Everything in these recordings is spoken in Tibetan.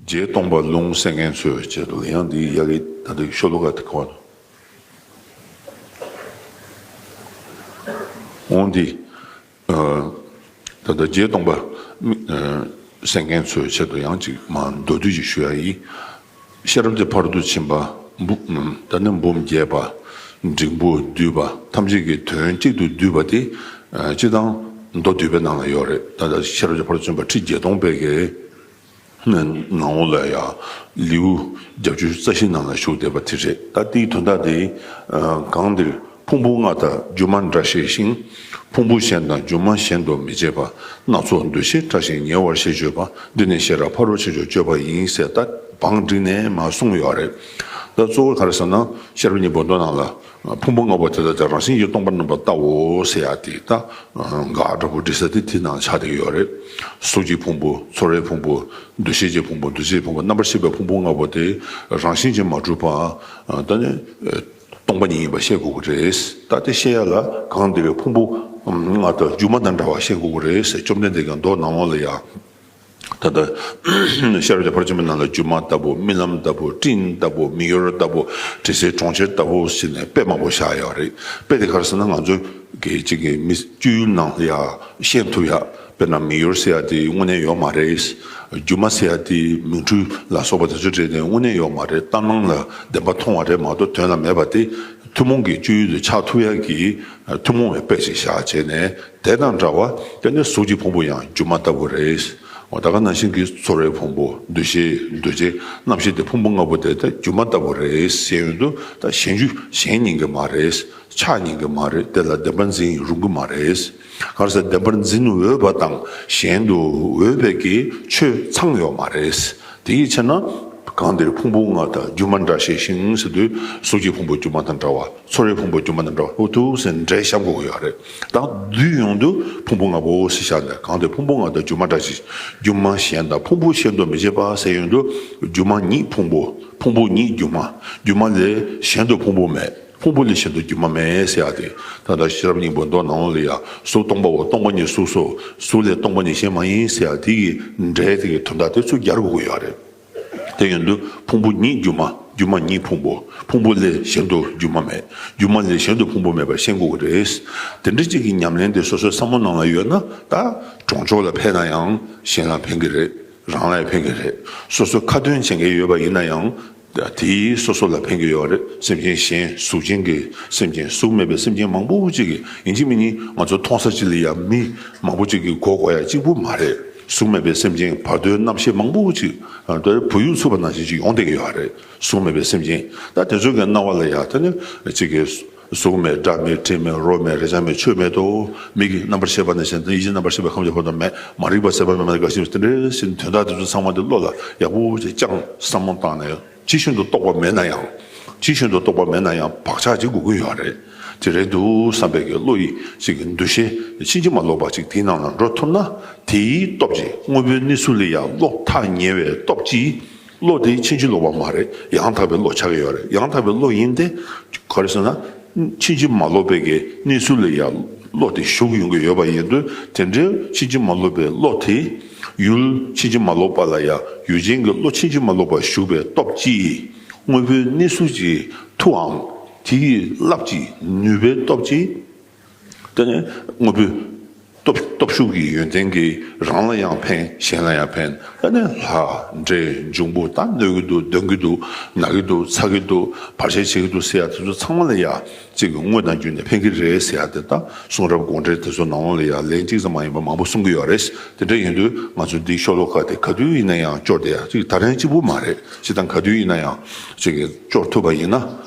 རྗེའི་སྟོང་པ་རླུང་བསྲེ་མཁན་ཚོས་བྱེད་འདུག་ཡང་འདི་ཡི་ཡ་གི་ད་དུ་ཤོ་ལོ་ཀ་དེ་གོ། འོང་འདི། ད་ལྟ་རྗེའི་སྟོང་པ་བསྲེ་མཁན་ཚོས་བྱེད་འདུག་ཡང་ཅིག་མ་མདོ་དུས་ཀྱི་ཤོ་ཡ་ཡིས། ཤེས་རབ་ཀྱི་བར་དུ་ཕྱིན་པ། ད་ནི་འབུམ་བརྒྱད་པ། འབྲིང་པོ་བསྡུས་པ་ཐམས་ཅད་ཀྱི་དོན་གཅིག་ཏུ་བསྡུས་པ་དེ། སྤྱི་དང། མདོ་བསྡུས་པའི་ནང་ལ་ཡོད་རེད། ད་ཤེས་རབ་ཀྱི་བར་དུ་ཕྱིན་པ་ཁྲི་བརྒྱད་སྟོང་པའི་གེགས། ནི་ནང་ལོགས་ལ་ཡང། ལེའུ་རྒྱ་བཅུ་རྩ་བཞིའི་ནང་ལ་བཞུགས་བསྡད་པ་དེ་རེད། ད་ཏིའི་དོན་དག་དེ། གང་འདིར། ཕུང་པོ་ལྔ་དང་སྒྱུ་མ་འདྲ་ཤེས་ཤིང། ཕུང་པོ་གཞན་དང་སྒྱུ་མ་གཞན་དུ་མི་བྱེད་པ་སྣ་ཚོགས་འདུ་ཤེས་ཕྲ་ཞིང་ཉེ་བར་ཤེས་སྤྱོད་པ་འདི་ནི་ཤེས་རབ་ཕ་རོལ་ཕྱིན་ཆོག་སྤྱོད་པ་ཡིན་ཟེར་ད་བང་བསྒྲིགས་ནས་མ་གསུངས་ཡོད་རེད་ད་གཙོ་བོ་ག་རེ་ཟེར་ན་ཤེས་རབ་གཉིས་པོ་མདོ་ནང་ལ་ཕུང་པོ་ལྔ་པོ་དེ་དག་དེ་རང་བཞིན་གྱིས་སྟོང་པ་རྣམ་པར་བལྟའོ་ཟེར་ཡག་དེ་ད་ག་འདྲ་པོ་བསྒྲིགས་ས་དེ་དེ་ནང་ཆ་དེ་ཡོད་རེད་གཟུགས་ཀྱི་ཕུང་པོ་ཚོར་བའི་ཕུང་པོ་འདུ་ཤེས་ཀྱི་ཕུང་པོ་འདུ་བྱེད་ཀྱི་ཕུང་པོ་རྣམ་པར་ཤེས་པའི་ཕུང་པོ་ལྔ་པོ་དེ་རང་བཞིན་གྱིས་མ་གྲུབ་པ་ད་ནི། སྟོང་པ་ཉིད་ཡིན་པར་བཤད་དགོས་ཀྱི་རེད། ད་ལྟའི་བཤད་ཡ་ལ་གང་བདེ་བའི་ཕུང་པོ་ལྔ་དང་སྒྱུ་མ་དང་འདྲ་བར་བཤད་དགོས་ཀྱི་རེད། བཅོམ་ལྡན་འདས་ཀྱང་མདོ་ནང་ལོགས་ལ་ཡང། ད་ལྟ་ཤར་བྱང་བར་ཆད་མེད་ནང་ལ་སྒྱུ་མ་ལྟ་བུ་རྨི་ལམ་ལྟ་བུ་སྤྲིན་ལྟ་བུ་མི་གཡོ་ར་ལྟ་བུ་དྲི་ཟའི་གྲོང་ཁྱེར་ལྟ་བུ་ཟེར་ནས་དཔེ་མང་པོ་བཞག་ཡོད་རེད། དཔེ་དེ་ག་རེ་ཟེར་ན་ང་ཚོའི་གཅིག་གི་མི་སྤྱོད་ཡུལ་ནང་ལ་ཡང་བཤད་ཐུབ་ཡ། དཔེར་ན་མིག་ཡོར་ཟེར་ཡག་དེ་དངོས་གནས་ཡོག་མ་རེད། སྒྱུ་མ་ཟེར་ཡག་དེ་མིག་འཕྲུལ་ལ་སོགས་པ་དེ་ཚོ་བྲིས་ནས་དངོས་གནས་ཡོག་མ་རེད་གཏམ་ནང་ལ་བདེན་པ་མཐོང་བ་རེད་མ་གཏོགས་དོན་ལ་མེད་པ་དེ་ཐུན་མོང་གི་སྤྱོད་ཡུལ་དུ་ཆགས་ཐུབ་ཡག་གི་ཐུན་མོང་བའི་དཔེ་ཞིག་བཞག་བྱས་ནས་དེ་དང་འདྲ་བ་དཔེར་ན་གཟུགས་ཀྱི་ཕུང་པོ་ཡང་སྒྱུ་མ་ལྟ་བུ་རེད། ད་ག་ནང་བཞིན་གྱི་ཚོར་བའི་ཕུང་པོ་འདུ་ཤེས་འདུ་བྱེད་རྣམ་ཤེས་དེ་ཕུང་པོ་ལྔ་པོ་དེ་ད་སྒྱུ་མ་ལྟ་བུ་རེད་ཤེས་ཡོན་དུ་ད་གཞན་རྒྱུ་གཞན་ཉན་གི་མ་རེད་ཆགས་ཉན་གི་མ་རེད་དེ་ལ་བདེན་པ་འཛིན་རུང་གི་མ་རེད། སྔར་ས་བདེན་པར་འཛིན་འོས་པ་དང་གཞན་དུ་འོས་པའི་གི་ཆོས་ཚང་ཡོད་མ་རེད། དེ་ཡི་ཕྱིར་ན། གང་འདིར་ཕུང་པོ་ལྔ་དང་སྒྱུ་མ་འདྲ་ཞེས་ཤིང་ཟེར་དུས་གཟུགས་ཀྱི་ཕུང་པོ་སྒྱུ་མ་དང་འདྲ་བ་ཚོར་བའི་ཕུང་པོ་སྒྱུ་མ་དང་འདྲ་བ་ལྷུ་ཐུག་ཟེར་འདྲའི་ཞབས་འགོག་ཡོད་རེད་དང་བསྡུས་ཡོང་དུས་ཕུང་པོ་ལྔ་པོ་ཞེས་བྱ་ནས་གང་འདིར་ཕུང་པོ་ལྔ་དང་སྒྱུ་མ་འདྲ་ཞེས་སྒྱུ་མ་གཞན་དང་ཕུང་པོ་ཕྱེད་དོ་མི་བྱེད་པ་ཟེར་ཡོང་དུས་སྒྱུ་མ་ཉིད་ཕུང་པོ་ཕུང་པོ་ཉིད་སྒྱུ་མ་སྒྱུ་མ་ལས་གཞན་དུ་ཕུང་པོ་མེད། ཕུང་པོ་ནི་བཞིན་དུ་སྒྱུ་མ་མེད་ཡེ་ཤེས་ཏེ། ད་ལྟར་ཤེས་རབ་སྙིང་པོའི་མདོ་ནང་ལ་ཡང་གཟུགས་སྟོང་པའོ་སྟོང་པ་ཉིད་གཟུགས་སོ། གཟུགས་ལས་སྟོང་པ་ནི་གཞན་མ་ཡིན་ཞེས་ཡང་དེ་ཡི་སྒྲའི་དེ་ཡི་དོན་དག་དེ་ཚུལ་བརྒྱར་དགོས་ཀྱི་ཡོད་རེད། དེ་ཡིན་དུས་ཕུང་པོ་ཉིད་སྒྱུ་མ་སྒྱུ་མ་ཉིད་ཕུང་པོ་ཕུང་པོ་ལས་གཞན་དུ་སྒྱུ་མ་མེད་སྒྱུ་མ་ལས་གཞན་དུ་ཕུང་པོ་མེད་པར་ཤེས་དགོས་ཀྱི་རེད། དེ་འདྲ་གཅིག་གི་ཉམས་ལེན་དེ་སོ་སོའི་བསམ་བློ་ནང་ལ་ཡོད་ན་ད། གྲོང་ཆོག་ལ་ཕན་ན་ཡང་གཞན་ལ་ཕན་གྱི་རེད་རང་ལ་ཡང་ཕན་གྱི་རེད། སོ་སོ་ཁ་ཏོན་བྱེད་མཁན་ཡོད་པ་ཡིན་ན་ཡང། དེ་སོ་སོ་ལ་ཕན་གྱི་ཡོད་རེད་སེམས་ཅན་གཞན་གཟུགས་ཅན་གྱི་སེམས་ཅན་གཟུགས་མེད་པའི་སེམས་ཅན་མང་པོ་གཅིག་གི་ཡིན་གཅིག་མིན་གཉིས་ང་ཚོ་མཐོང་ས་གཅིག་ལ་ཡ་མི་མང་པོ་གཅིག་གི་མགོ་སྐོར་ཡ་གཅིག་པུ་མ་རེད་གཟུགས་མེད་པའི་སེམས་ཅན་བར་དོའི་རྣམ་ཤེས་མང་པོ་གཅིག་ད་བུ་ཡུག་འཚུབ་པ་ནང་བཞིན་གཅིག་ཡོང་བསྡད་ཀྱི་ཡོད་རེད་གཟུགས་མེད་པའི་སེམས་ཅན་ད་དེ་ཚོའི་གི་སྣང་བ་ལ་ཡ་ད་ནི་གཅིག་གི་གཟུགས་མེད་སྒྲ་མེད་དྲི་མེད་རོ་མེད་རེག་བྱ་མེད་ཆོས་མེད་དོ། མིག་གིས་རྣམ་པར་ཤེས་པ་ནས་གཞན་དོན་ཡིད་ཀྱིས་རྣམ་པར་ཤེས་པའི་ཁམས་ཀྱི་བར་དུ་མེད། མ་རིག་པ་སེལ་བ་མེད་པ་ནས་དགའ་བཞིན་དུ་དེ་འདྲའི་ཞིང་དོན་དག་འདི་ཚོ་ཚང་མ་འདི་བློ་ལ་ཡག་པོ་ཞིག་བཅངས་བསམ་བློ་བཏང་ནས་ཅི་བཞིན་དུ་རྟོགས་པ་མེད་ན་ཡང། ཅི་བཞིན་དུ་རྟོགས་པ་མེད་ན་ཡང་བག་ཆགས་ཅིག་དགོས་ཀྱི་ཡོད་རེད། དེ་རེད་འདུག་བསམ་པའི་གི་བློ་ཡིད་ཅིག་གི་འདུ་ཤེས་ཕྱིན་ཅི་མ་ལོག་པ་ཅིག་དེའི་ནང་ལ་འགྲོ་ཐུབ་ན་དེའི་སྟོབས་ཀྱིས་དངོས་པོའི་གནས་ཚུལ་ལས་ཡང་ལོག་ཐག་ཉེ་བའི་སྟོབས་ཀྱིས་བློ་དེ་ཕྱིན་ཅི་ལོག་པ་མ་རེད་ཡང་དག་པའི་བློ་ཆགས་ཀྱི་ཡོད་རེད་ཡང་དག་པའི་བློ་ཡིན་ཏེ། ག་རེ་ཟེར་ན། ཕྱིན་ཅི་མ་ལོག་པའི་གི་གནས་ཚུལ་ལ་ཡང་བློ་དེ་ཞུགས་ཡོང་གི་ཡོད་པ་ཡིན་དུས་དེ་འདྲའི་ཕྱིན་ཅི་མ་ལོག་པའི་བློ་དེས། ཡུལ་ཕྱིན་ཅི་མ་ལོག་པ་ལ་ཡང་ཡུལ་ཅན་གྱི་བློ་ཕྱིན་ཅི་མ་ལོག་པར་ཞུགས་པའི་སྟོབས་ཀྱིས། དངོས་པོའི་གནས་ཚུལ་གྱི་མཐུའམ་དེའི་རླབས་ཀྱི་ནུས་པའི་སྟོབས་ཀྱིས། དེ་ནི་དངོས་པོའི་སྟོབས་ཤུགས་ཀྱི་ཡོན་ཏན་གྱིས་རང་ལ་ཡང་ཕན་གཞན་ལ་ཡང་ཕན་དེ་ནི་ལྷ་འདྲེ་འབྱུང་པོ་ད་གནོད་ཀྱི་འདུག་འདོན་གྱི་འདུག་ན་གི་འདུག་ཚ་གི་འདུག་བར་ཆད་བྱེད་ཀྱི་འདུག་ཟེར་ཡ་དེ་ཚོ་ཚང་མ་ལ་ཡ་གཅིག་གི་དངོས་དང་རྒྱུ་ནི་ཕན་གྱི་རེད་ཟེར་ཡ་དེ་ལྟ་གསུང་རབ་དགོངས་འགྲེལ་དེ་ཚོ་ནང་ལོགས་ལ་ཡ་ལན་གཅིག་ཙམ་མ་ཡིན་པར་མང་པོ་གསུང་གི་ཡོད་རེད་དེ་འདྲ་ཡིན་དུས་ང་ཚོ་འདིའི་ཤོ་ལོ་ཀ་དེ་ག་དུས་ཡིན་ན་ཡང་སྐྱོར་དེ་ཡ་གཅིག་ད་ལན་གཅིག་པུ་མ་རེད་ཅི་དང་ག་དུས་ཡིན་ན་ཡང་གཅིག་སྐྱོར་ཐུབ་པ་ཡིན་ན།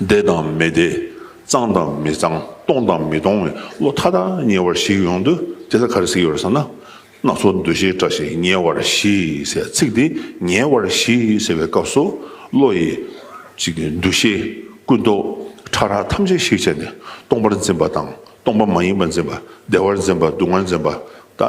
བདེ་དང་མི་བདེ། གཙང་དང་མི་གཙང། སྟོང་དང་མི་སྟོང་བའི་བློ་མཐའ་དག་ཉེ་བར་ཞིག་ཡོང་དུས་དེ་ལ་ག་རེ་ཟེར་ཡོད་ཟེར་ན། སྣ་ཚོགས་འདུ་ཤེས་བཀྲ་ཤིས་ཉེ་བར་ཞིག་ཟེར་ཚིག་དེ་ཉེ་བར་ཞིག་ཟེར་བའི་སྐབས་སུ་བློ་ཡི། འདུ་ཤེས། ཀུན་རྟོག། ཕྲ་རགས་ཐམས་ཅད་གཞིག་བྱས་ནས་སྟོང་པར་འཛིན་པ་དང་སྟོང་པ་མ་ཡིན་པར་འཛིན་པ་བདེ་བར་འཛིན་པ་སྡུག་བསྔལ་འཛིན་པ་ད་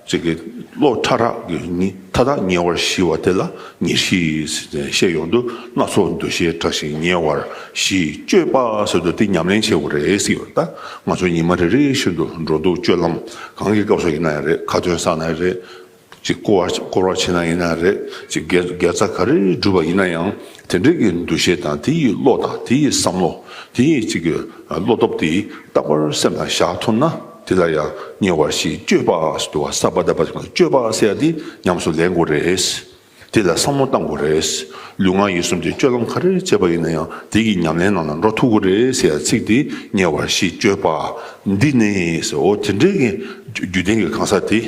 ཅི་དགེ་སློབ་ཕྲ་རགས་ཀྱིས་ནི་མཐའ་དག་ཉེ་བར་ཞི་བ་དེ་ལ་ཉེར་ཞི་ཟེར་ནས་བཤད་ཡོང་དུས་སྣ་ཚོགས་འདུ་ཤེས་དྲག་ཞིང་ཉེ་བར་ཞི་སྤྱོད་པ་ཟེར་དུས་འདི་ཉམས་ལེན་བྱེད་དགོས་རེད་གསུངས་ཡོད་ད་ང་ཚོ་ཉི་མ་རེ་རེ་བཞིན་དུ་འགྲོ་འདུག་སྤྱོད་ལམ་གང་གི་སྐབས་སུ་ཡིན་ན་ཡང་རེད་ཁ་ཏོན་ས་ན་ཡང་རེད་ཅིག་སྐོར་བ་བྱེད་ན་ཡིན་ན་ཡང་རེད་ཅིག་དགེ་རྩ་ག་རེ་སྒྲུབ་པ་ཡིན་ན་ཡང་དེ་འབྲེལ་གྱི་འདུ་ཤེས་དང་དེ་ཡི་བློ་དང་དེ་ཡི་བསམ་བློ་དེ་ཉིད་གཅིག་གི་བློ་སྟོབས་དེས་རྟག་པར་སེམས་ལ་བཞག་ཐུབ་ན་དེ་ལ་ཡང་ཉེ་བར་ཞིག་སྤྱོད་པ་སྡུ་བ་སརྦ་དཱ་པཱ་སྤྱོད་པ་སེ་ཡ་འདི་ཉམས་སུ་ལེན་དགོས་རེད། དེ་ལ་བསམ་བློ་གཏང་དགོས་རེད། ལུས་ངག་ཡིད་གསུམ་གྱི་སྤྱོད་ལམ་ག་རེར་བྱེད་པ་ཡིན་ན་ཡང་དེ་ཀྱི་ཉམས་ལེན་ནང་ལ་འགྲོ་ཐུབ་དགོས་རེད་ཟེར་ཡ་ཚིག་འདི་ཉེ་བར་ཞིག་སྤྱོད་པ་འདི་ནི་ཟེར་འོ་དེ་འབྲེལ་གྱི་རྒྱུད་ལྡན་གྱི་གང་ཟག་དེ།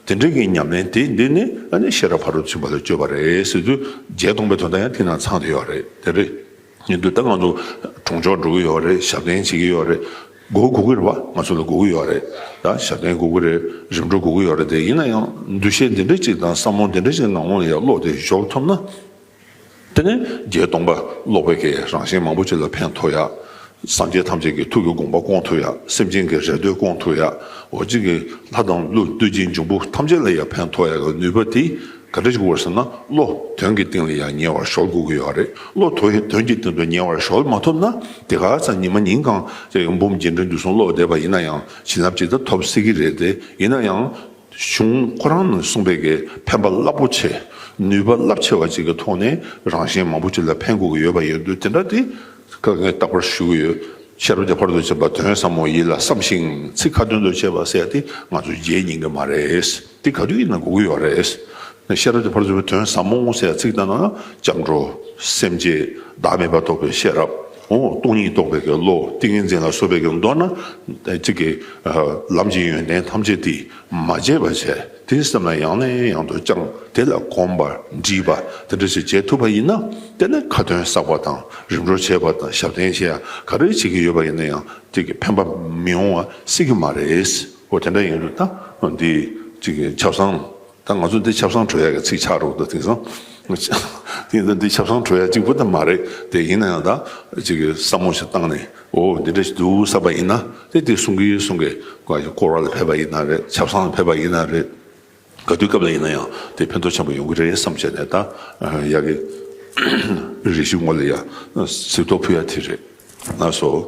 དེ་འདྲའི་གི་ཉམས་ལེན་དེ་འདི་ནི་ཨ་ནི་ཤེས་རབ་ཕ་རོལ་ཚུད་པ་ལ་སྤྱོད་པ་རེད་ཟེར་དུས་རྗེས་སྟོང་པའི་དོན་དག་ཡང་དེ་ནང་ཚང་དུ་ཡོད་རེད་དེ་རེད་ཉན་དུས་ད་ང་ཚོ་གྲོང་ཆོག་འགྲོ་གི་ཡོད་རེད་ཞབས་བརྟན་བྱེད་ཀྱི་ཡོད་རེད་སྒོ་གོ་གི་རེད་བ་ང་ཚོ་ལ་སྒོ་གི་ཡོད་རེད་ད་ཞབས་བརྟན་གོ་གི་རེད་རིམ་གྲོ་གོ་གི་ཡོད་རེད་དེ་ཡིན་ན་ཡང་འདུ་ཤེས་འདི་འདྲ་གཅིག་དང་བསམ་བློ་འདི་འདྲ་གཅིག་ལང་ལོང་ལ་ཡར་ཀློག་དེ་ཞོག་ཐུབ་ན། དེ་ནས་རྒྱའི་སྟོང་པ་ཀློག་པའི་ཀའི་རང་བཞིན་མང་པོ་ཅི་ལ་ཕན་ཐོགས་ཡ། སངས་རྒྱས་ཐམས་ཅད་ཀྱི་ཐུགས་ཀྱི་དགོངས་པ་སྐོང་ཐུབ་ཡ་སེམས་ཅན་གྱི་རེ་འདོད་སྐོང་ཐུབ་ཡ་འོ་གཅིག་གི་ལྷ་དང་ཀླུ་བདུད་རྗེ་འབྱུང་པོ་ཐམས་ཅད་ལ་ཡང་ཕན་ཐོགས་ཡ་གི་ནུས་པ་དེ་ག་འདྲ་ཞིག་དབོར་ཟེར་ན་བློ་དོན་གྱི་སྟེང་ལ་ཡང་ཉེ་བར་ཞོག་དགོས་ཀྱི་ཡོད་རེད་བློ་དོན་གྱི་སྟེང་དུ་ཉེ་བར་ཞོག་མ་ཐུབ་ན་དེ་ག་ཚ་ཉི་མ་ཉིན་གང་ཅིག་འབུམ་རྒྱས་འབྲིང་བསྡུས་གསུང་ཀློག་བསྡད་པ་ཡིན་ན་ཡང་བྱིན་རླབས་ཅི་ལྟར་ཐོབ་སྲིད་ཀྱི་རེད་དེ་ཡིན་ན་ཡང། བྱུང་ཁོ་རང་ནས་གསུངས་པའི་གི་ཕན་པ་རླབས་པོ་ཆེ་ནུས་པ་རླབས་ཆེ་བ་ཅིག་གི་ཐོག་ནས་རང་གཞན་མང་པོ་ཅིག་ལ་ཕན་དགོས་ཀྱི་ཡོད་པ་ཡིན་དུས་དེ་འདྲ་དེ་ག་ངས་རྟག་པར་ཞུ་གི་ཡོད་ཤེས་རབ་ཀྱི་བར་དུ་བྱེད་པ་དོན་བཟང་མོ་ཡིད་ལ་བསམ་ཞིང་ཚིག་ཁ་ཏོན་དུ་བྱས་པ་བསལ་ཏེ་ང་ཚོ་རྗེས་སྙིང་གི་མ་རེད་དེ་ག་དུས་ཡིན་ན་གོ་གི་ཡོད་རེད། ཤེས་རབ་ཀྱི་བར་དུ་བྱེད་པ་དོན་བཟང་མོ་བསལ་ཚིག་ལྟ་ན་ལྗང་བྲོ། སེམས་བསྐྱེད་བདག་མེད་པར་རྟོགས་པའི་ཤེས་རབ། ངོ་བོ་སྟོང་ཉིད་རྟོགས་པའི་བློ་ཏིང་ངེ་འཛིན་ལ་སོགས་པས་མདོར་ན། གཅིག་གིས། ལམ་གྱི་ཡོན་ཏན་ཐམས་ཅད་འདིས་མ་བྱས་པར་བྱས་དེ་སེམས་ལ་ཡང་ནས་ཡང་དུ་བཅངས་དེ་ལ་གོམས་པ་འདྲིས་པ་དེ་འདྲ་ཞིག་བྱེད་ཐུབ་པ་ཡིན་ན་དེ་ནི་ཁ་ཏོན་བསགས་པ་དང་རིམ་གྲོ་བྱས་པ་དང་ཞབས་བརྟན་ཞེས་ག་རེ་བྱེད་ཀྱི་ཡོད་པ་ཡིན་ན་ཡང་གཅིག་གིས་ཕན་པ་མི་ཡོང་བ་སྲིད་ཀྱི་མ་རེད། འོ་དེ་འདྲ་ཡིན་ན་ད་འདི། ཆབ་གསང། ད་ང་ཚོ་འདི་ཆབ་གསང་གྲོལ་ཡག་གི་ཚིག་ཆགས་རོགས་དུ་དེང་སང་འདི་ཆབ་གསང་གྲོལ་ཡག་ཅིག་པུ་ད་མ་རེད་དེ་ཡིན་ན་ཡང་ད་ཅིག་བསམ་བློ་ཞིག་བཏང་ནས་འོ་འདི་འདྲ་ཞིག་འདུག་བསམ་པ་ཡིན་ན་དེ་དེ་གསུང་གི་གསུང་གི་སྐོར་བ་ལ་ཕེབས་པ་ཡིན་ན་རེད་ཆབ་གསང་ལ་ཕེབས་པ་ཡིན་ན་རེད་ག་དུས་སྐབས་ལ་ཡིན་ན་ཡང་དེ་ཕན་ཐོག་ཆེན་པོ་ཡོང་གི་རེད་བསམ་བྱས་ནས་ད་ཡག་གི་རེ་ཞིག་ངོ་ལ་ཡང་གཟིགས་རྟོག་ཕུལ་ཡག་དེ་རེད་ན་སོ།